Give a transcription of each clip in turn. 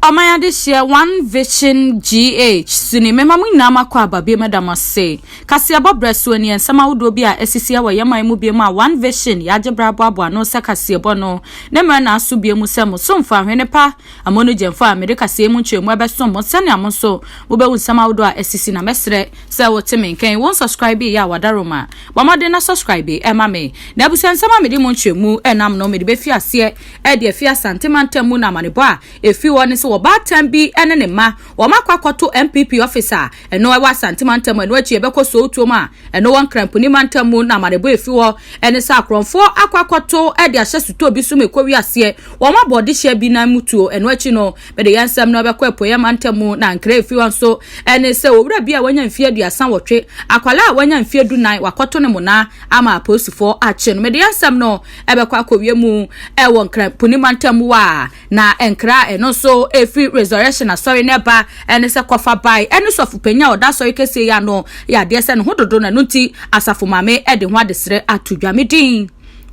Ɔman Adehyeɛ One Vision GH, Suni, Mema mo nyinaa mo akwaaba, bio meda mo ase. Kaseɛbɔ berɛ soɔ nie, nsɛm ahodoɔ bi a asisiɛ wɔ yɛn man mu bio mu a One Vision, yɛn agye berɛ aboaboa ano sɛ kaseɛbɔ no ne mmerɛ naaso bio mu sɛ mo somfo ahwene pa, Amonu Gyamfo a mede kaseɛ yi mu nkyerɛmu ɛbɛsom mo sɛnea mo nso mo bɛhu nsɛm ahodoɔ a asisi na mɛsrɛ sɛ wo te me nka yi wo nsɔskraibe yɛ a wadaro ma bɔ mmɔden na sɔskraibe ɛma me na abusua nsɛm a mede mu nkyerɛmu ɛnam no mede bɛfi aseɛ de afi Asante mantam mu na amanebɔ a efi hɔ ne sɛ ɔbaatan bi ne ne mma wɔakɔ akɔto NPP office a ɛno ɛwɔ Asante mantam ɛno akyi ɛbɛkɔ Sowutuom a ɛno wɔ Nkramponi mantam mu na amanebɔ efi hɔ ne sɛ akorɔmfoɔ akɔ akɔto de ahyɛ sotɔɔ bi so ma ɛkɔwie aseɛ wɔn abɔ ɔdehyeɛ bi nan mu tuo ɛno akyi no mede yɛn nsɛm no ɛbɛkɔ Apueɛ mantam mu na nkra efi hɔ nso ne sɛ owura bi a wanya mfeɛ aduasa wɔtwe akwalaa a wanya mfeɛ du nan wakɔto ne monaa ama apolisifoɔ akye no mede yɛn nsɛm no ɛbɛkɔ akɔwie mu ɛwɔ nkra po ne mantam wa na nkra a ɛno nso ɛfiri resurrection asɔre no ɛba ɛne sɛ kɔfa bae ɛne sɔfo panyin a ɔda asɔre kɛseɛ yi ano yɛ adeɛ sɛ ne ho dodo na ɛno nti asafo maame ɛde ho adesrɛ ato dwa me din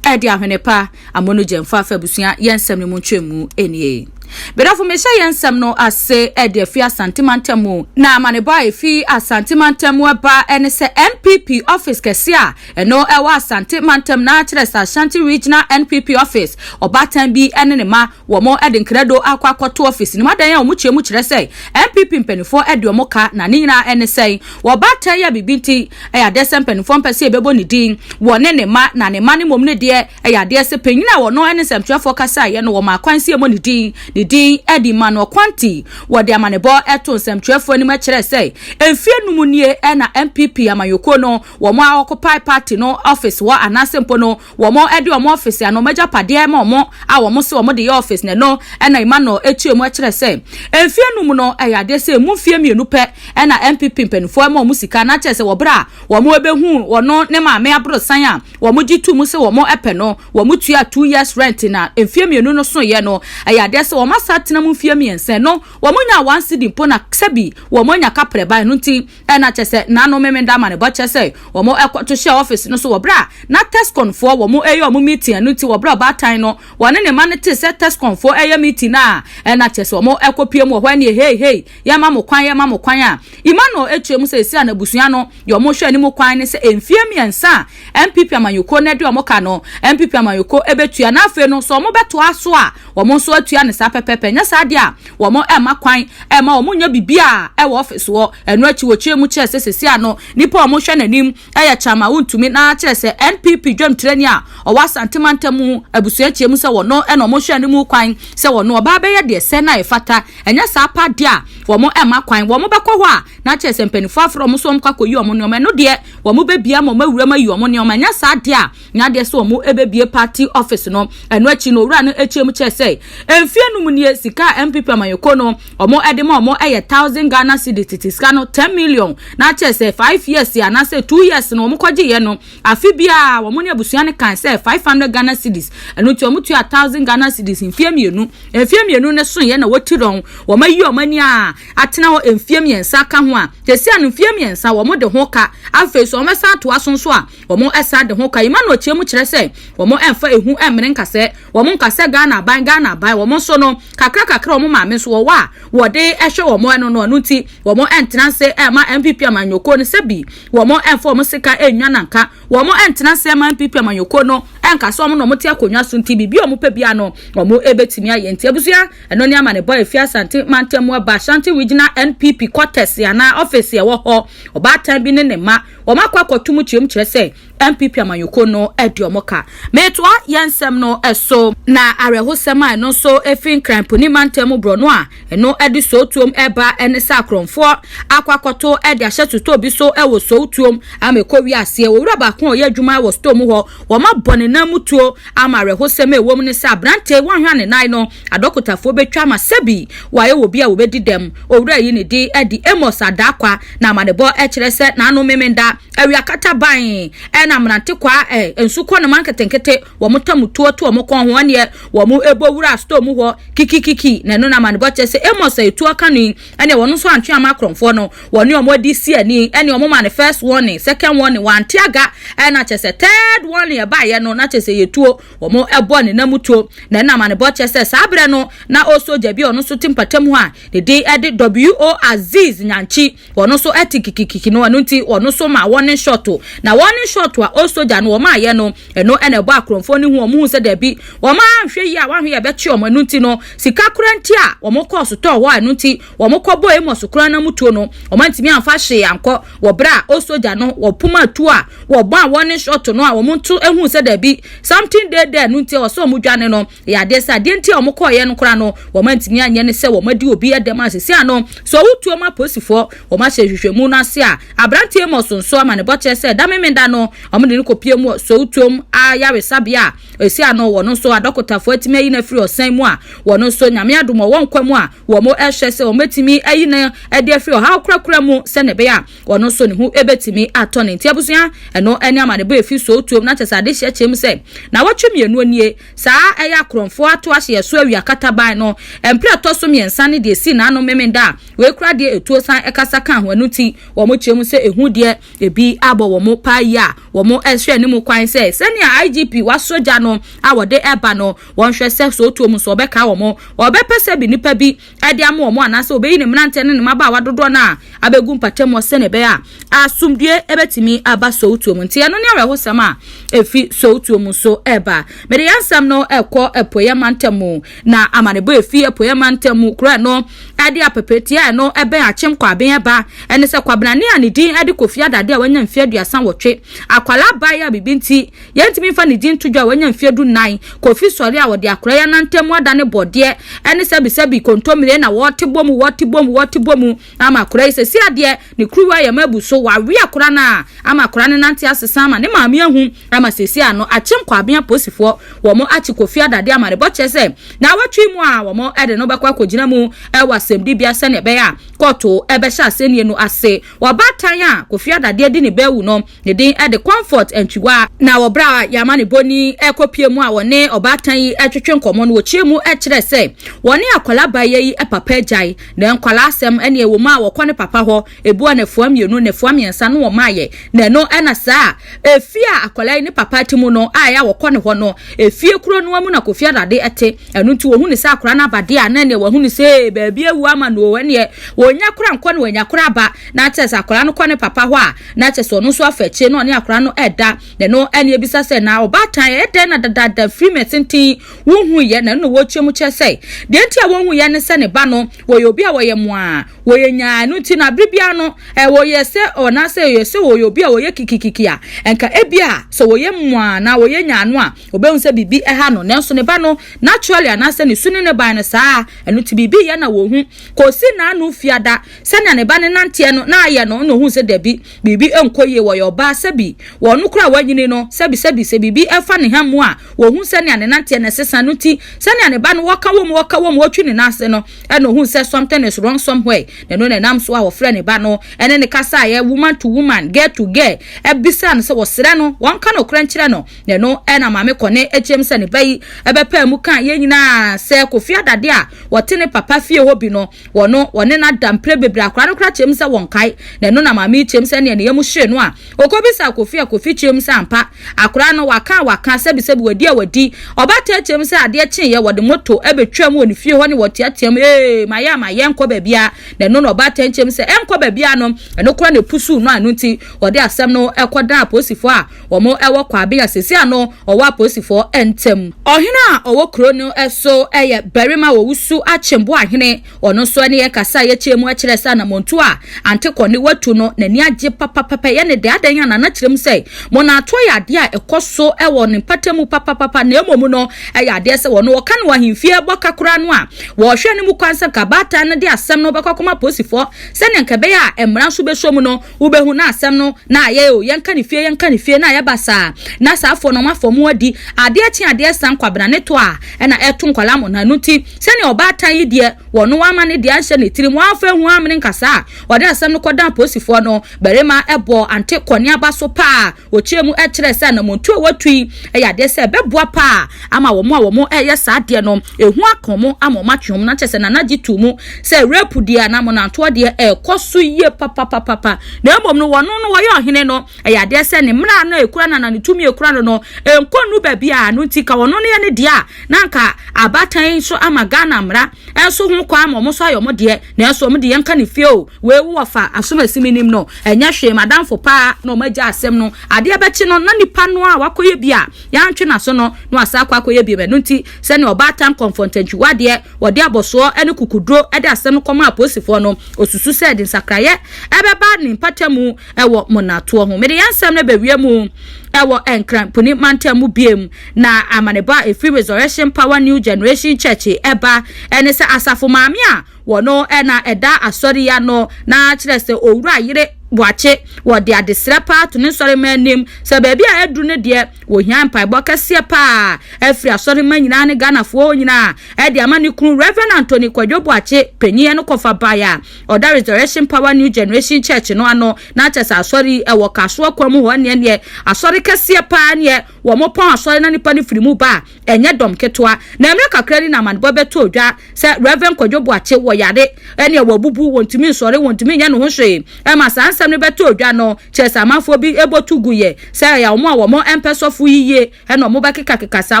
ɛde ahwene pa amono gyɛmfa afa abusua yɛn nsɛm no mu ntwam mu ɛnie Bedafo mehyɛ yɛn nsɛm no ase ɛde afi asante mantam mu na amanebɔ a ɛfi asante mantam mu ɛba ɛne sɛ NPP office kɛse a Ɛno ɛwɔ Asante mantam na kyerɛ sɛ Ashanti Regional NPP office, ɔbaatan bi ne ne mma wɔn de nkrado akɔ akɔto office no mu. Adan a wɔn kyerɛ mu kyerɛ sɛ NPP mpaninfoɔ de wɔn ka na ne nyinaa ne sɛn wɔ ɔbaatan yi a biribi nti ɛyɛ adeɛ sɛ mpaninfoɔ mpɛ sɛ yɛbɛbɔ ne din wɔ ne ne mma na ne mma no mmom no deɛ ɛyɛ adeɛ sɛ panyin a wɔn ne nsɛmtwerɛfoɔ kasaeɛ no wɔmaa kwan sɛ yɛmmɔ ne din ne din de mma no ɔkwan nti wɔde amanebɔ to nsɛmtwerɛfoɔ anim kyerɛ sɛ mfie num nie na NPP amanyɔkuo no wɔn a wɔkɔpae party no office hɔ anaasɛ mpo no wɔde wɔn office anaa wɔn agyapadeɛ ma wɔn a wɔn se wɔn de yɛ office na ɛno ɛna Emmanuel etua mu ɛkyerɛ sɛ mfie num no ɛyɛ adeɛ sɛ emu mfie mmienu pɛ ɛna NPP mpanimfoɔ ɛma wɔn sika na kyerɛ sɛ wɔ berɛ a wɔn ɛbɛhu wɔn ne maame aborosan a wɔn gye tu mu sɛ wɔn ɛpɛ no wɔn tua two years rent na mfie mmienu no soeɛ no ɛyɛ adeɛ sɛ wɔn asa tena mu mfie mmiɛnsa no wɔn nya one cedi mpo na sɛbi wɔn anya kaprɛ ban no nti Ɛna kyɛ sɛ na no Memenda ama ne ba kyɛ sɛ wɔn ɛkɔ to hyɛɛ office no so wɔ berɛ a na Tescon foɔ wɔn ɛyɛ wɔn meeting ɛno nti wɔ berɛ a ɔbaatan no wɔne ne mma no tee sɛ Tescon foɔ ɛyɛ meeting no a ɛna kyɛ sɛ wɔn ɛkɔ pue mu wɔ hɔ ɛneɛ hei hei yɛma mo kwan yɛma mo kwan a Emmanuel ɛkyerɛ mu sɛ ɛsi a n'abusua no deɛ wɔn hwɛ anim kwan ne sɛ mfie mmiɛnsa a NPP amanyɔkuo no de wɔn ka no, NPP amanyɔkuo bɛtua na afei no sɛ wɔbɛtoa so a, wɔn nso atua no saa pɛpɛɛpɛ. Nyɛ saa deɛ a, wɔn mma kwan mma wɔn nyɛ biribiara wɔ office hɔ. Ɛno akyi wɔkyerɛ mu kyerɛ sɛ sɛsi a no, nipa a wɔhwɛ n'anim yɛ kyan ma wontumi na kyerɛ sɛ NPP dwamtirani a ɔwɔ Asante mantam abusua kyerɛ mu sɛ wɔn na wɔhwɛ no mu kwan sɛ wɔn ɔbaa bɛyɛ deɛ ɛsɛ na ɛfata. Ɛnyɛ saa pa deɛ a, wɔn mma kwan. Wɔbɛkɔ hɔ a na kyerɛ sɛ mpaninfoɔ afrɛ wɔn sɛ wɔnkɔ akɔyi wɔn nnoɔma. Ɛno deɛ wɔn bɛbia ma wɔn awuram ayi wɔn nneɛma ɛnyɛ saa deɛ a na adeɛ sɛ wɔn ɛbɛbie party office no ɛno akyi no owura no akyia mu kyerɛ sɛ mfie no mu nie sika a mpp amanyɔkuo no wɔn ɛde ma wɔn ɛyɛ thousand ghana cedi tete sika no ten million na akyerɛ sɛ five years anaasɛ two years no wɔn kɔgye yɛ no afe biara wɔn ne abusua no kan sɛ five hundred ghana cedis ɛno nti wɔn tua thousand ghana cedis mfie mmienu mfie mmienu no so yɛ na wɔti dɔn wɔn ayi wɔn ani a atena hɔ mfeɛ mmiɛnsa aka ho a, sesia no mfeɛ mmiɛnsa wɔn de ho ka, afei so wɔsan atoa so nso a, wɔn ɛsan de ho ka. Emmanuel kyerɛ mu kyerɛ sɛ, wɔn ɛnfa ehu ɛmmene nkasɛɛ, wɔn nka sɛ Ghana aban, Ghana aban, wɔn nso no, kakra kakra wɔn maame nso wɔwɔ a, wɔde ɛhwɛ wɔn ɛno no, ɛno nti wɔn ɛntena ase ɛmma NPP amanyɔkuo no sɛ bi wɔn ɛnfa wɔn sika ɛnnwa na nka wɔn ɛntena ase ɛmma NPP amanyɔkuo no ɛnka sɛ wɔn na wɔte akonnwa so nti biribi a wɔpɛ biara no wɔn ɛbɛtumi ayɛ nti abusua Ɛno ne amanebɔ a efi Asante mantam mu aba. Ashanti Regional NPP kɔtɛse anaa ɔfese a ɛwɔ hɔ. Ɔbaatan bi ne ne mma, wɔakɔ akɔto mu kyerɛm kyerɛ sɛ NPP amanyɔkuo no adi wɔn ka. Metoa yɛn nsɛm no so. Na awerɛhosɛm a ɛno nso efi Nkran Puni mantam mu borɔno a ɛno de Sowutuom reba ne sɛ akorɔmfoɔ akɔ akɔto de ahyɛ sotɔɔ bi so wɔ Sowutuom ama ɛkɔwie aseɛ. Owura baako a ɔyɛ adwuma wɔ sotɔɔ mu hɔ Wɔabɔ ne nan mu tuo ama awerɛhosɛm a ɛwom ne sɛ aberante yi wanhwɛ anenae no. Adɔkotafoɔ bɛtwa ama sɛ bi wayɛ wɔ bi a wɔbɛdi dɛm. Owura yi ne din de Amos Adaakwa na amanebɔ kyerɛ sɛ n'ano Memenda, awia kata ban na mmerante kwaa nso kɔ ne man nketenkete, wɔn ta mu tuo to wɔn kɔn ho ɛneɛ wɔn bɔ wura store mu hɔ kikikiki na ɛno na amanebɔ kyerɛ sɛ Amos a yɛtu aka no yi ɛne wɔn nso antwe ama akorɔmfoɔ no wɔne wɔn adi si ani ɛne wɔn ma no first warning second warning wɔante aga ɛna kyɛ sɛ third warning ɛbaeɛ no na kyɛ sɛ yɛtuo wɔn ɛbɔ ne nam tuo na ɛna amanebɔ kyɛ sɛ saa berɛ no na ɔsogya bi a ɔno nso te mpatam hɔ a ne din ɛde W.O. Aziz Nyankyi wɔn nso ɛte kikikiki no ɛno nti wɔn nso ma wɔne shɔto na wɔne shɔto a ɔsogya no wɔn ayɛ no ɛno ɛna ɛbɔ akorɔmfoɔ no hu wɔn hu sɛ daabi wɔn ahwɛ yi a wɔahwɛ yɛ bɛkye wɔn ɛno nti no Sika koraa nti a wɔkɔɔ sotɔɔ hɔ a ɛno nti wɔkɔbɔɔ Amos koraa n'amutuo no, wɔantumi amfa hwee ankɔ wɔ berɛ a osogya no wɔpom atuo a wɔbɔ a warning shot no a wɔnto huu sɛ daabi something dey there no nti ɛwɔ sɛ wɔdwane no yɛ adeɛ sɛ adeɛ nti a wɔkɔeɛ no koraa no wɔantumi anyɛ ne sɛ wɔadi obi dɛm a seesei ano nso awutuo mu apolisifoɔ wɔahyɛ nhwehwɛmu no ase a aberanteɛ Amos nso amanebɔ kyerɛ sɛ ɛda Memenda no wɔde no kɔpie mu wɔ Sowotom Ayaresabea a Esi ano wɔ no nso adɔkotafo atumi ayi no afiri ɔsan mu a wɔn nso Nyame adom wɔwɔ nkwa mu a wɔn ɛhwɛ sɛ wɔbɛtumi ayi no ɛde afiri ɔhaw korakora mu sɛnea ɛbɛyɛ a ɔno nso ne ho ɛbɛtumi atɔ no. Nti abusua ɛno ɛne amanebɔ ɛfi sow tuom na kyɛsɛ adehyeɛ kyɛm sɛ nawɔtwe mmienu nie saa ɛyɛ akorɔmfoɔ ato ahye ɛso awi akataban no ɛmprɛ ɛtɔ so mmiɛnsa ne deɛ ɛsii n'ano Memenda a wei koraa deɛ ɛtuo san ɛkasa ka ho ɛno nti wɔn kyerɛ mu sɛ ɛhu deɛ Ebi abɔ wɔn paa yi a wɔrehwɛ anim kwan sɛ sɛnea IGP wɔasɔ gya no a wɔde reba no, wɔnhwɛ sɛ sɛ otuo mu so ɔbɛkae wɔn, ɔbɛpɛ sɛ bi nnipa bi de ama wɔn anaasɛ obeyi ne mmeranteɛ ne ne mmabaawa dodoɔ no a abegu mpɔtam hɔ sɛnea ɛbɛyɛ a asomdwoe bɛtumi aba sɛ otuo mu. Nti ɛno ne awerɛhosɛm a efi sɛ otuo mu so reba. Mede yɛn asɛm no rekɔ Apueeɛ Mantam mu. Na amanebɔ a efi apueɛ mantam mu korɔɛ no de apɛpɛ tiaa no bɛn Akyem Kwaben ba, ɛne sɛ Kwabenane a ne din de Kofi Adade a wanya mfeɛ aduasa nwɔtwe. Akwadaa bae a biribi nti yɛntumi mfa ne din nto dwa a wanya mfeɛ du nnan. Kofi sɔre a ɔde akoraa yi anantam mu adane bɔdeɛ ɛne sɛbisɛbi kontommire na wɔte bɔ mu, wɔte bɔ mu, wɔte bɔ mu ama akoraa yi sɛsi adeɛ. Ne kuruwa yam abu so, wɔawe akora no a ama akora no nante asesa ama ne maame ahu ama seesei ano akye nkwabea apolisifoɔ wɔn akye Kofi Adade amanebɔ kyerɛ sɛ naawɔtwe mu a wɔn de no bɛkɔ akɔgyina mu wɔ asɛmdibea sɛnea ɛbɛyɛ a kɔɔto bɛhyɛ asɛnnie no ase. Ɔbaatan a Kofi Adade adi ne bɛ awu no Ne din de Comfort Antwiwa. Na wɔ berɛ a Yɛamane Boni rekɔpue mu a wɔne ɔbaatan yi retwetwe nkɔmmɔ no, wɔkyerɛ mu kyerɛ sɛ wɔne akwadaa baeɛ yi papa agyae na nkwadaa asɛm ne ɛwɔ mu a wɔkɔ ne papa hɔ ebi ɔnafua mmienu, nnafua mmiɛnsa na wɔmaeɛ na ɛno na saa efie a akwadaa yi ne papa te mu no a ɛyɛ a wɔkɔ ne hɔ no efie kuro noa mu na Kofi Adade te ɛno nti wɔhu ne sɛ akwadaa no abadeɛ a na ɛneɛ wɔahu ne sɛ baabi awu ama no o ɛneɛ wɔnya kora nkɔ na wɔanya kora aba na kyerɛ sɛ akwadaa no kɔ ne papa hɔ a, na kyerɛ sɛ ɔno nso afa akyire na ɔne akwadaa no ɛda, na ɛno ɛne ebisa sɛ, na ɔbaatan ɛyɛ dɛn na dadaada firi mɛ tenten wonhuiɛ, na ɛno na wɔrekyerɛ mu kyerɛ sɛ, deɛ nti a wɔnhuiɛ ne sɛ ne ba no wɔyɛ obi a wɔyɛ moaa, wɔyɛ nyaa, ɛno nti na bere biara no ɛ, wɔyɛ sɛ ɔnaasɛ wɔyɛ sɛ wɔyɛ obi a wɔyɛ kikikiki a, ɛnka ebi a sɛ wɔyɛ moaa anaa wɔyɛ nyaa no a, wɔbɛhu sɛ biribi ɛha no, nanso ne ba no naturally anaasɛ ne su ne ne ban no saa, ɛno nti biribi yɛ na wɔhu, kɔsi n'ano fiada. Sɛnea ne ba no nanteɛ no na ayɛ no na ohuu sɛ dabi, biribi nkɔ yie, wɔyɛ ɔbaa, sɛbi, wɔn no koraa wɔanyini no, sɛbi, sɛbi, sɛ biribi fa ne ha mu a, wɔhu sɛnea ne nanteɛ no ɛsesa no nti, sɛnea ne ba no ɔka wɔ mu, ɔka wɔ mu, ɔtwi ne nan ase no, ɛna ohuu sɛ something is wrong somewhere, na ɛno na ɛnam so a wɔfrɛɛ ne ba no, ɛne no kasaeɛ, woman to woman, girl to girl, ɛbisaa no sɛ wɔsrɛ no, wɔnka nokorɛ nkyerɛ no, na ɛno ɛna maame kɔne akyerɛm sɛ ne ba yi ɛbɛpaa mu kaa yɛn nyinaa sɛ Kofi Adade a wɔte ne papa fie hɔ bi no, wɔno wɔne no ada mprɛ bebree akora no kora kyɛm sɛ wɔnkae na ɛno na maame yi kyɛm sɛ neɛ ne yam hyere no a ɔkɔbisa kofi a kofi kyɛm sɛ ampa akora no waka a waka sɛbisɛbi wadi a wadi ɔbataa kyɛm sɛ adeɛ kyeeɛ wɔde moto bɛtwaam wɔ ne fie hɔ ne wɔteateam ee mayɛ a mayɛ nkɔ baabiaa na ɛno na ɔbaatan kyɛm sɛ ɛnkɔ baabiaa no ɛno kora na ɛpusuu no a ɛno nti wɔde asɛm no kɔdaa apolisifoɔ a Wɔn wɔ kwabea a seesei ano ɔwɔ apolisifoɔ ntam. Ɔhene a ɔwɔ kuro no so yɛ barima a ɔwusu Akyem Boahene. Ɔno nso ne yɛn kasa a yɛkyerɛ mu kyerɛ sɛ anamɔntuo a Ante Kɔne watu no n'ani agye papapapa. Yɛn ne dɛ adɛn a Nana kyerɛ mu sɛ mɔnatoɔ yɛ adeɛ a ɛkɔ so wɔ ne mpata mu papapapa na mmom no ɛyɛ adeɛ sɛ wɔn wɔka no wɔ ahemfie bɔka koraa no a wɔhwɛ no mu kwan sɛ nka abaatan no de asɛm no bɛkɔ akɔma apolisifoɔ sɛdeɛ nka ɛbɛyɛ a mmara nso bɛsɔ mu no Wobɛhu na asɛm no na ayɛ o, yɛnka ne fie yɛnka ne fie na ayɛ basaa, na saa foɔ no wɔn afa wɔn adi, adeɛ kye adeɛ sa nkwabena ne toa a ɛna ɛto nkwadaa mo na ɛno nti sɛdeɛ ɔbaatan yi deɛ wɔno wama ne deɛ anhyɛ ne tirim wɔamfa anhu ammene nkasaa a ɔde asɛm no kɔdan apolisifoɔ no barima bɔɔ Ante Kɔneaba so paa. Wɔkyerɛ mu kyerɛ sɛ anammɔntuo a wɔatu yi yɛ adeɛ sɛ ɛbɛboa pa ara ama wɔn a wɔyɛ saa adeɛ no ɛho aka wɔn ama wɔatwe wɔn. Na kyerɛ sɛ Nana gye too mu sɛ rape deɛ anaa monantoɔ deɛ ɛrekɔ so yie papapapapa na mmom no wɔn no wɔyɛ ɔhene no ɛyɛ adeɛ sɛ ne mmara no a ɛkura no anaa ne tumi a ɛkura no no ɛnkɔ nnu baabiara no nti ka wɔn no yɛ ne deɛ a na anka abaatan nso ama Ghana mmara nso ho kwan ama wɔn nso ayɛ wɔn deɛ nanso wɔn deɛ yɛnka ne fie o Wei wo ɔfa asom asi me nim no ɛnyɛ hwee madamfo paa na ɔmo agya asɛm no adeɛ bɛkye no na nipa no a wakɔyɛ bi a yantwe naso no na wasan akɔ akɔyɛ biom ɛno nti sɛnea ɔbaatan kɔnfɔntantwiwa adeɛ wɔde abɔsoɔ ne kukuduro de asɛm no kɔmaa apolisifoɔ no ɔsusu sɛ ɛde nsakraeɛ ɛbɛba ne mpatamu ɛwɔ monatoɔ ho mede yɛnsɛm no bɛwie mu ɛwɔ nkran puni mantam mu biom na amanebɔ a ɛfiri resurrection power new generation church ɛba ɛne sɛ asafo maame a Wɔno na ɛda asɔre yi ano na kyerɛ sɛ owura yere boakye. Wɔde adesrɛ paa to ne nsɔremma anim. Sɛ baabi a aduru no deɛ, wɔhia mpaebɔ kɛseɛ paa afiri asɔremma nyinaa ne Ghanafoɔ nyinaa de ama ne kunu Rev. Anthony Kwadwo Boakye, panin ɛno kɔfa baeɛ a ɔda Resurrection Power New Generation Church no ano na kyerɛ sɛ asɔre yi ɛwɔ Kasoa Kwamu hɔ ɛneɛ neɛ asɔre kɛseɛ paa neɛ Wɔpɔn asɔre na nnipa no firi mu ba a, ɛnyɛ dɔm ketewa. Na mmerɛ kakra ni na amanebɔ bɛtɔɔ dwa sɛ Rev. Kwadwo Boakye wɔ yare ɛnneɛ wabubu, wɔntumi nsɔre, wɔntumi nyɛ ne ho hwee. Ɛma saa nsɛm no bɛtɔɔ dwa no kyerɛ sɛ amanfoɔ bi bɔ tu guiɛ sɛ ɛyɛ wɔn a wɔmpɛ sɔfo yi yie na wɔbɛkekakeka saa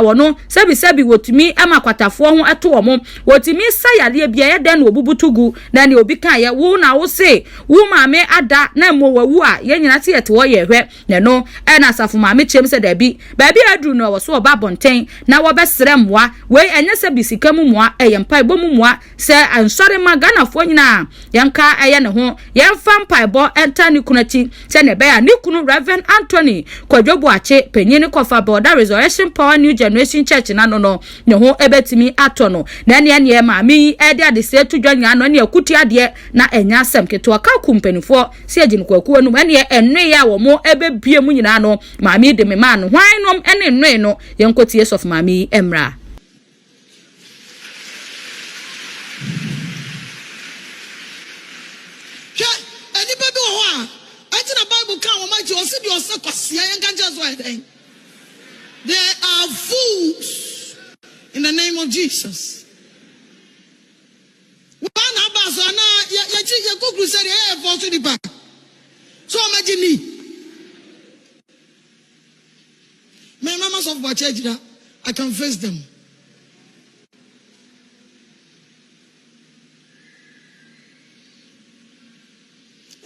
wɔn. Sɛbisɛbi wɔtumi ma kwatafoɔ ho to wɔn. Wɔtumi sa yareɛ bi a, ɛyɛ dɛn na wɔbubu to gu? Na nea obi kaeɛ, Wo na wose wo maame ada na mmom wawu a, yɛn nyinaa se yɛte hɔ yɛrehwɛ. Na ɛno na Asafo Maame kyerɛm sɛ dabi. Baabi a aduru no, ɛwɔ so wɔba abɔnten na wɔbɛsrɛ mmoa. Wei ɛnyɛ sɛ bi sika mu mmoa, ɛyɛ mpaebɔ mu mmoa. Sɛ nsɔre mma Ghanafoɔ nyinaa yɛnka yɛ ne ho, yɛmfa mpaebɔ ntaa ne kunu akyi sɛdeɛ ɛbɛyɛ a ne kunu Rev. Anthony Kwadwo Boakye, panyin no Kɔfabɔ da Resurrection Power New Generation Church no ano no, ne ho bɛtumi atɔ no. Na ɛneɛ neɛ Maame yi de adesrɛ to dwa nyinaa no, ɛneɛ ɛko tiadeɛ. Na ɛnyɛ asɛm ketewa ka ku mpanimfoɔ sɛ agye no kwakuo no mu. Ɛnneɛ nnoeɛ a wɔbɛbue mu nyinaa no, maame yi de me maa no. Hwan nom ne nnoe no? Yɛnkɔtie sɔfo maame yi mmra. Hwɛ, nnipa bi wɔ hɔ a, ɛnti na Bible kaa wɔn agye, ɔse deɛ ɔsɛ kwasea, yɛnka nkyerɛ no sɛ ɔyɛ dɛn? They are fools in the name of Jesus. Woana abaa so anaa yɛkyi yɛkɔ crusade ɛyɛ yɛ fɔɔ so nipa so ɔma gye ni mɛ na ma sɔfo akyɛ agyina I can face them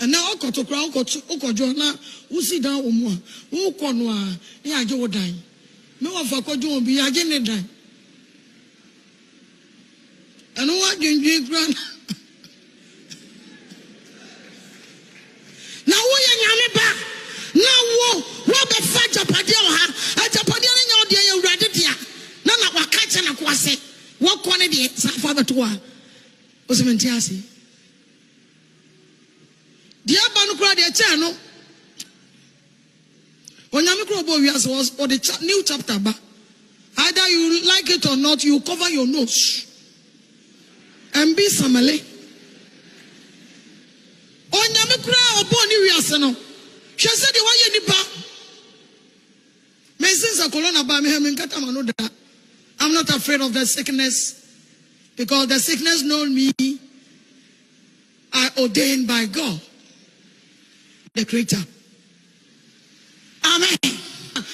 ɛnɛ ɔkɔto kora wokɔdwo na wosi dan wɔ mu a wokɔ no a ne yɛagye wo dan me wɔfa kɔdwo obi yɛagye ne dan Ɛno ho adwendwen kura no. Na woyɛ Nyame ba, na wo, woabɛfa agyapadeɛ wɔ ha. Agyapadeɛ no nyɛ wo deɛ, yɛ Awurade dea. Na na waka akyerɛ n'akoa se, Wokɔ ne deɛ, saa fa bɛto hɔ a. Wose mente ase. Deɛ ɛba no koraa deɛ ɛkyɛɛ no. Onyame koro bɔɔ wiase was ɔde cha new chapter ba either you like it or not you cover your nose and be samale Onyame koro a ɔbɔɔ ne wiase no hwɛ sɛ deɛ wayɛ nipa mensen sɛ corona baa me ha menkata ma no da I'm not afraid of the sickness because the sickness know me are ordained by God the creator. Amen.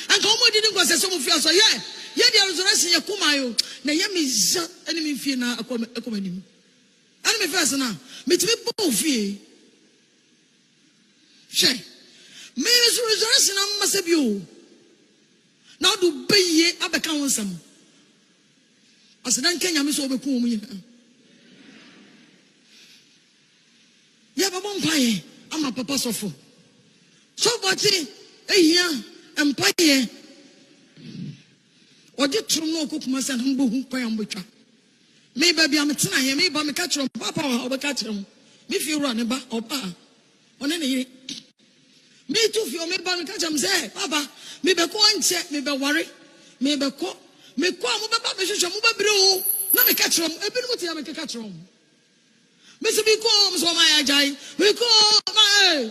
Anka wɔn adi ne nkɔsɛ sɛ wɔn fi asɔ yɛ yɛ deɛ resurrection yɛ kuma yo na yɛ mi za ɛne mi fie na ɛkɔ ɛkɔ mi anim ɛne mi fɛ ɛsɛ na mi ti mi bɔ ofie hwɛ mi resurrection na mma sɛ bi o na ɔdo bɛyie abɛka ho nsɛm. Aseda nka Nyame sɛ ɔbɛku wɔn nyinaa. Yɛbɛbɔ mpaeɛ ama papa sɔfo. So bɔkye ehia mpaeɛ? Ɔde turom na ɔkɔ Kumasi anam bɛhu kwan a wɔbɛtwa. Me baabi a metenaeɛ, meba meka kyerɛ wɔn, papa wɔ ha ɔbɛka kyerɛ ho. Me fie wura ne ba ɔbaa. Ɔne ne yere. Meretu fie, mereba no, ka kyerɛ me sɛ, Papa, mebɛkɔ nkyɛ, mebɛware, mebɛkɔ. Mekɔ a, mobɛba bɛhwehwɛ, mobɛbrɛ o. Na meka kyerɛ wɔn, ebinom te a mekeka kyerɛ wɔn. Mese mekɔ, wɔn sɛ wɔn ayɛ agyae, mekɔ, ma ee.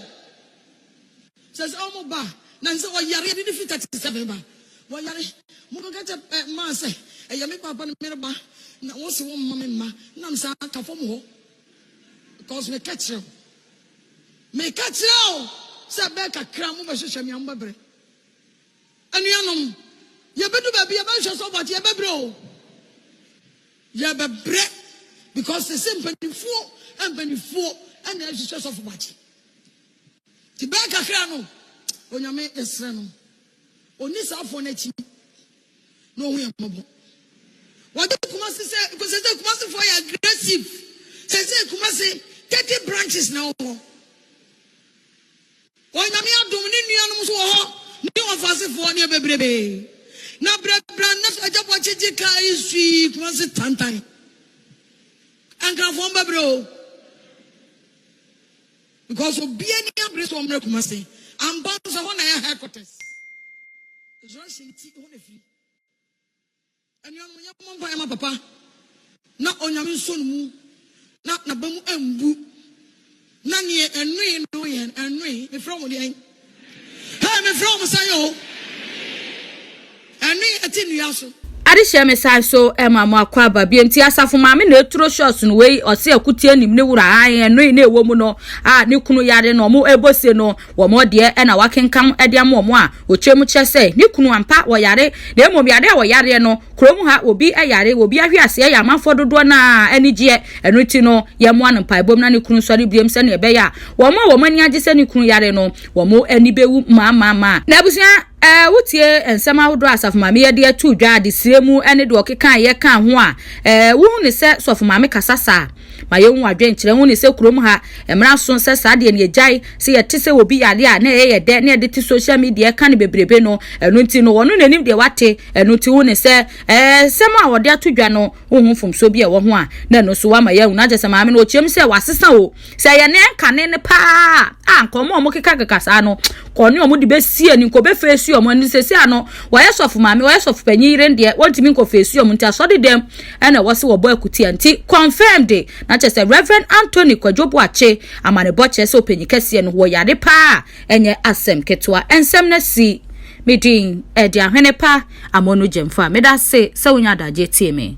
Sɛ sɛ wɔn ba, na sɛ ɔyare, ɛde ne fi 37 ba, wɔyare. Mokɔka kyɛ eh, mmaa sɛ, ɛyɛ me papa no mereba, na wɔn se wɔn mma me mma, nam saa ka fam hɔ. Because meka kyerɛ wo, meka kyerɛ wo sɛ ɛbɛyɛ kakra mobɛhwehwɛ me a mobɛbrɛ. Anuanom, yɛbɛdu baabi yɛbɛhwehwɛ so but yɛbɛbrɛ o. Yɛbɛbrɛ because sese mpanimfoɔ mpanimfoɔ ɛna ɛhwehwɛ sɔfo bakye. Ti bɛyɛ kakra no, Onyame yɛsrɛ no. Onni saa afɔɔ no akyi, na ɔhu yɛn mmɔbɔ. Wɔde Kumasi sɛ, because sɛsɛ Kumasifoɔ yɛ aggressive. Sɛsɛ Kumasi, 30 branches na ɛwɔ hɔ. Wɔ Nyame adom, ne nuanom nso wɔ hɔ, ne Ɔfasefoɔ, ne ɛbɛbrebee. Na brɛbrɛ na Agya Boakye gye kaa yi sui Kumasi tantan. Ankrafoɔ mbɛbrɛ o. Because obia ni abere sɛ ɔmmrɛ Kumasi ampa nso ɛhɔ na ɛyɛ headquarters resurrection ne ti ɛhɔ na ɛfiri anuanom yɛ mmɔ mpa yɛ ma papa na onyame nso no mu na naba mu ambu na neɛ ɛnoe no yɛ ɛnoe mefrɛ wo deɛn Hey me frɛ wɔn sɛ yo. Ɛne ɛte nnua so. Ade hyɛ me san so ma mo akwaaba bio nti asafo maame na eturo shots no wei ɔse akutie nim ne wura ae ɛnoe na ɛwɔ mu no a ne kunu yare no ɔmo ɛbɔ se no wɔn ɔdeɛ ɛna wakenkam ɛde ama ɔmo a ɔkyerɛ mu kyerɛ sɛ ne kunu ampa wɔyare na mmom yare a wɔyareɛ no Kurom ha, obi yare, obi ahwe ase, ɛyɛ amanfoɔ dodoɔ no ara anigyeɛ. Ɛno nti no, yɛmmoa no mpaebom na ne kunu nsɔre biom sɛdeɛ ɛbɛyɛ a wɔn a wɔn ani agye sɛ ne kunu yare no, wɔn ani bɛwu mmaammaamma. Na abusua, eh, wotie nsɛm ahodoɔ a Asafo Maame Yɛde ato dwa, adesrɛ mu ne deɛ ɔkekaeɛ kaa ho a, eh, wohunu sɛ Sɔfo Maame kasa saa? Ma yɛnhu adwenkyerɛ ho ne sɛ kurom ha mmara so sɛ saa deɛ no yɛgyae sɛ yɛte sɛ obi yareɛ a na ɛyɛ yɛ dɛ na yɛde te social media ɛka no bebrebe no ɛno nti no ɔno na ɛnim deɛ wate ɛno nti wo ne sɛ ɛɛ sɛm a ɔde ato dwa no wo ho mfomsoɔ bi a ɛwɔ ho a na ɛno so wama yɛahu no akyɛ sɛ maame no ɔkyeam sɛ wasesa o sɛ yɛ ne ɛnkane no paa a nka ɔmo ɔmo keka keka saa no kɔ ne ɔmo de bɛsie ne nkɔ bɛfeesi ɔmo ɛno sɛsi a no wɔyɛ sɔfo maame wɔyɛ sɔfo panyin yere deɛ wɔntumi nkɔ feesi ɔmo nti asɔre dɛm ɛna wɔse wɔbɔ akutia nti confirm de na kyerɛ sɛ Rev Anthony Kwadwo Boakye amanebɔ kyerɛ sɛ ɔpanyin kɛseɛ no wɔ yare paa a ɛnyɛ asɛm ketewa nsɛm no asi me din ɛde ahwene pa amonu gyemfa meda ase sɛ wonya adagyeɛ tie me.